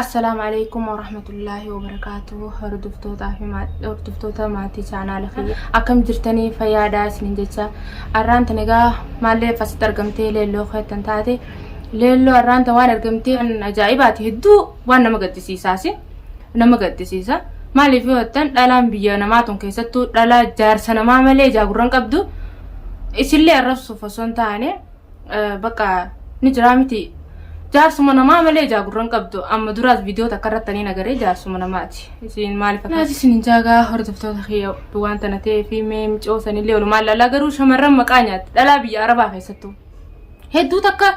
Assalaamu alaikum warahmatullaahi wabarakaatuhu hordoftootaa fi hordoftoota maatii chaanaala fi akkam jirtanii fayyaada isinin jecha arraanta nagaa maallee fasitti argamtee leelloo keettan taate leelloo arraanta waan argamtee ajaa'ibaati hedduu waan nama gaddisiisaasi nama gaddisiisa maaliif yoo jettan dhalaan biyya namaa tun keessattuu dhalaa jaarsa namaa malee jaagurran qabdu isillee arrabsuuf osoo hin taane bakka ni jiraa miti jaarsuma namaa malee jaagurran qabdu amma duraas viidiyoo takka irratti ani nagaree jaarsuma namaati isin maaliif akka naati isin jaagaa hordoftoota kiyya waan tana ta'ee fi mee micoo sanillee walumaan laalaa garuu shamarran maqaa nyaatti dhalaa biyya arabaa keessattuu hedduu takka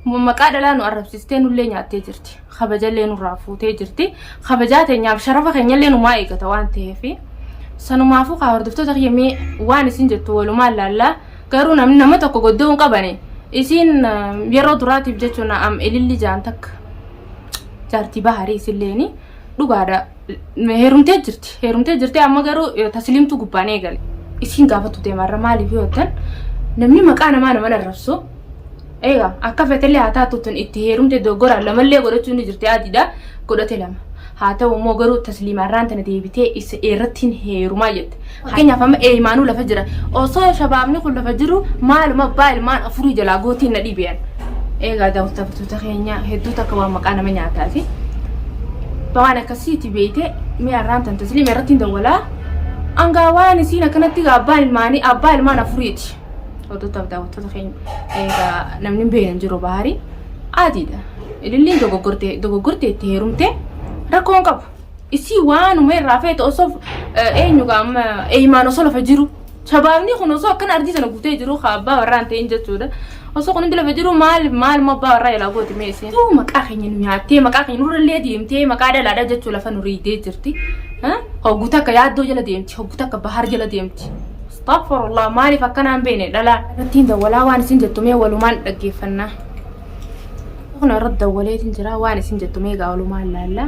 Kun maqaa dhalaa nu arrabsistee nullee nyaattee jirti. Kabajallee nurraa fuutee jirti. Kabajaa teenyaaf sharafa keenyallee numaa eegata waan ta'eef. Sanumaafuu kaa hordoftoota kiyya mee waan isin jettu walumaan laallaa garuu namni nama tokko goddoo hin qabane isiin yeroo duraatiif jechuun am ililli jaan takka jaartii baharii isinleeni dhugaadha. heerumtee jirti heerumtee jirti amma garuu eh, tasliimtu gubbaan eegale isiin gaafatu deemarra maaliif yoo jettan namni maqaa namaa nama narrabsu eega akka fetellee haa taatu tun itti heerumte dogoggoraan lamallee godhachuu ni jirti adiidha godhate lama haa ta'u immoo garuu tasliimaarraan tana deebitee isa irratti hin heerumaa jette Fakkeenyaaf amma eeymaanuu lafa jira. Osoo shabaabni kun lafa jiru maaluma abbaa ilmaan afurii jalaa gootiin na dhibiyan. Eegaa daawwattoota keenya hedduu takka waan maqaa nama nyaataa fi waan akkasiiti beeyte mi'a irraan tan tasliima irratti hin dawwalaa. Angaa waan isiin akkanatti egaa abbaan ilmaanii abbaa ilmaan afuriiti. Hordoftoota daawwattoota keenya eegaa namni hin beekne hin jiru bahaarii adiidha. Ililliin dogoggortee dogoggortee itti heerumtee rakkoo hin qabu. Isii waanuma irraa feete osoo eenyu qaama eeyimaan osoo lafa jiru. Shabaabni kun osoo akkana ardii sana guutee jiru haa abbaa warraa hin ta'in jechuudha. Osoo kun hundi lafa jiru maal maal immoo abbaa warraa ilaa gooti mee isiin. Tuu maqaa keenya nu nyaattee maqaa keenya nurrallee deemtee maqaa dhalaadha jechuu lafa nu riidee jirti. Hoggu takka yaaddoo jala deemti hoggu takka bahar jala deemti. Astaghfirullah maaliif akkanaan beene dhalaa. Ittiin dawwalaa waan isin jettu mee walumaan dhaggeeffannaa. Kun irratti dawwaleetiin jira waan isin jettu meegaa olumaan laalla.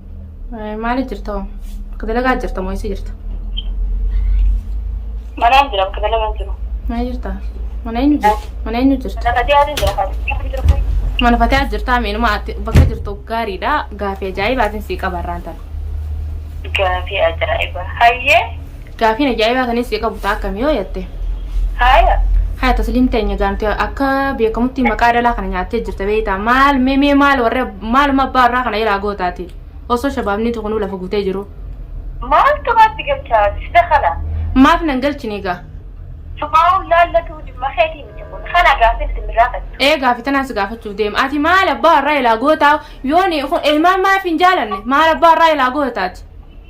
Maali jirta hoo? Akka dalagaa jirta moo eessa jirta? Manaan jira bakka dalagaan jiru. Mana jirta? Mana eenyu jirta? Mana eenyu jirta? Mana fatiyaatu jira fatiyaatu jira. Mana fatiyaa jirtaa meenuma ati bakka jirtu gaariidha. Gaafii ajaa'ibaatiin sii qabarraan tana. Gaafii ajaa'iba. Hayyee. Gaafiin ajaa'ibaa kan issi qabu taa akkami yoo jatte. Haaya. Haya tasliim teenya gaanti akka beekamutti maqaa dhalaa kana nyaattee jirta beeyta maal mee mee maal warra maaluma abbaa irraa kana iraa gootaati osoo shabaabni tuqnuu lafa gutee jiru Maaltu maatti galchaa sida kana? maaf nan galchine egaa Sumaa'uun laallatuu dhimma keetii miti kun. Kana gaafin isin irraa fattu. ee gaafi tanaan si gaafachuuf deema ati maal abbaa irraa ilaa gootaa yooni kun ilmaan maaf hin jaalanne maal abbaa irraa ilaa gootaati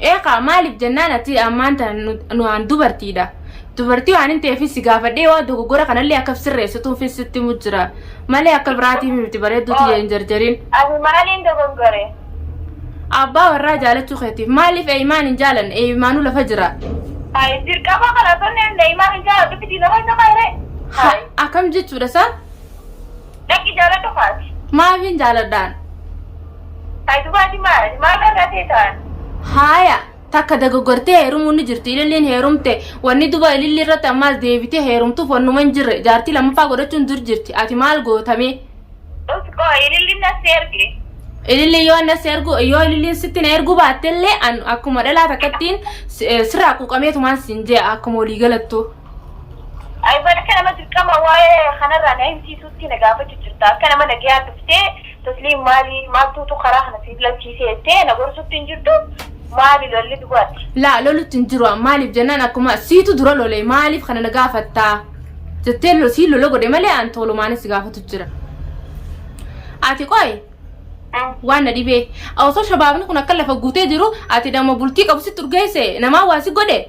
Eekaa maaliif jennaan ati ammaan tan nuaan dubartiidha. Dubartii waan hin ta'eefis si gaafadhee waan dogoggora kanallee akka sirreessituufis sitti himu jira. Malee akka biraatiif miti bareedduu tiyya hin jarjarin. Ani maaliin dogoggore? Abbaa warraa jaalachuu keetiif. Maaliif Eeyimaan hin jaalanne? Eeyimaanuu lafa jira. Hayi dirqama kana osoo inni Eeyimaan hin jaaladhu fitii nama hin nama hiree? Hayi. Akkam jechuudha isaa? Lakki jaaladhu kaati. Maafin jaaladhaan. Hay dubaati maali maal irraa teetaan. Haaya takka dagogortee heerumuun ni jirti ililliin heerumte wanni duba ililli irratti ammaas deebitee heerumtuuf wannuma hin jirre jaartii lammaffaa godhachuun dur jirti ati maal gootamee. Us qoo ililliin nassi erge. Ililliin yoo annas ergu yoo ililliin sitti na erguu baattellee an akkuma dhalaa takkattiin sirraa quuqameetumaan siin jee akkuma walii galattuu. Ayban akka nama dirqama waa'ee kanarraa na himsiisuutti na gaafachu jirta. Akka nama nagayaa dhuftee Tasliim maali maaltuutu karaa kana si filachiise jettee na gorsutti hin jirtu maali lolli dubaatti. Laa lolutti hin jiru an maaliif jennaan akkuma siitu dura lole maaliif kana na gaafatta jettee lo- sii lola godhe malee an toolumaanis si gaafatu jira. Ati qoy Mm. waan na dhibee osoo shabaabni kun akka lafa guutee jiru ati dhama bultii qabu sitti urgeesse namaa waa si godhe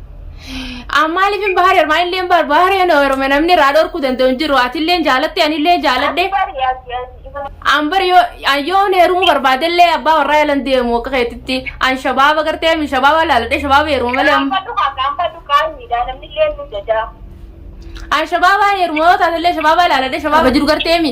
An maaliif hin baharee ormaa illee hin bahar baharee na orma namni irraa dhorkuu danda'u hin jiru ati illee jaalatte ani illee jaaladhe Bari ati ati ibara. an bari yoo an yoon heerumuu barbaade illee abbaa warraa yalan deemu akka keetitti an shabaaba gartee mi shabaaba laaladhe shabaaba heeruma malee amma. Gaanfadhu haa gaanfadhu qaanyiidha namni illee nu jajaa. An shabaaba heeruma yoo taate illee shabaaba laaladhe shabaaba jiru gartee mi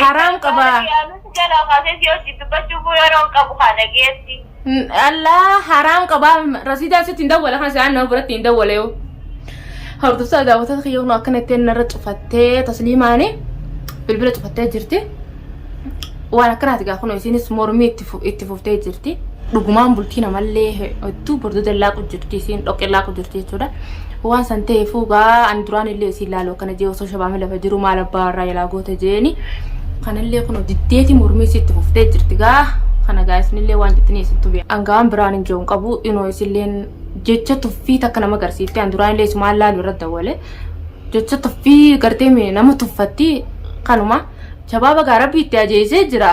Haraam qaba. Yaaluutu jalaa kaasee si hojii dubbachuuf yeroon qabu haa dhageessi. N- Allah haraam qaba. Rasiidaa sitti hin dawwala kan isaan nama biratti hin dawwale yoo. Hordoftoota daawwattoota kiyya kun akkana ittiin narra cufattee tasliimaani bilbila cufattee jirti. Waan akkanaati gaa kun isiinis mormii itti fu- itti fuftee jirti. Dhugumaan bultii namallee hedduu bordodallaa jirti isiin dhoqqellaa jirti jechuudha. Waan san ta'eefuu gaa ani duraan illee isiin laalu akkana jee osoo shabaami lafa jiru maal abbaa warraa jalaa goota jeeni kanallee kunoo diddeeti mormii isiitti fuftee jirti gaa kana gaa isinillee waan jettanii isintu beeku. Angawaan biraan hin je'uun qabu inoo isilleen jecha tuffii takka nama garsiifte an duraan illee isumaan laalu irra dawwale jecha tuffii gartee nama tuffatti kanuma shabaaba gaa rabbi itti ajeesee jira.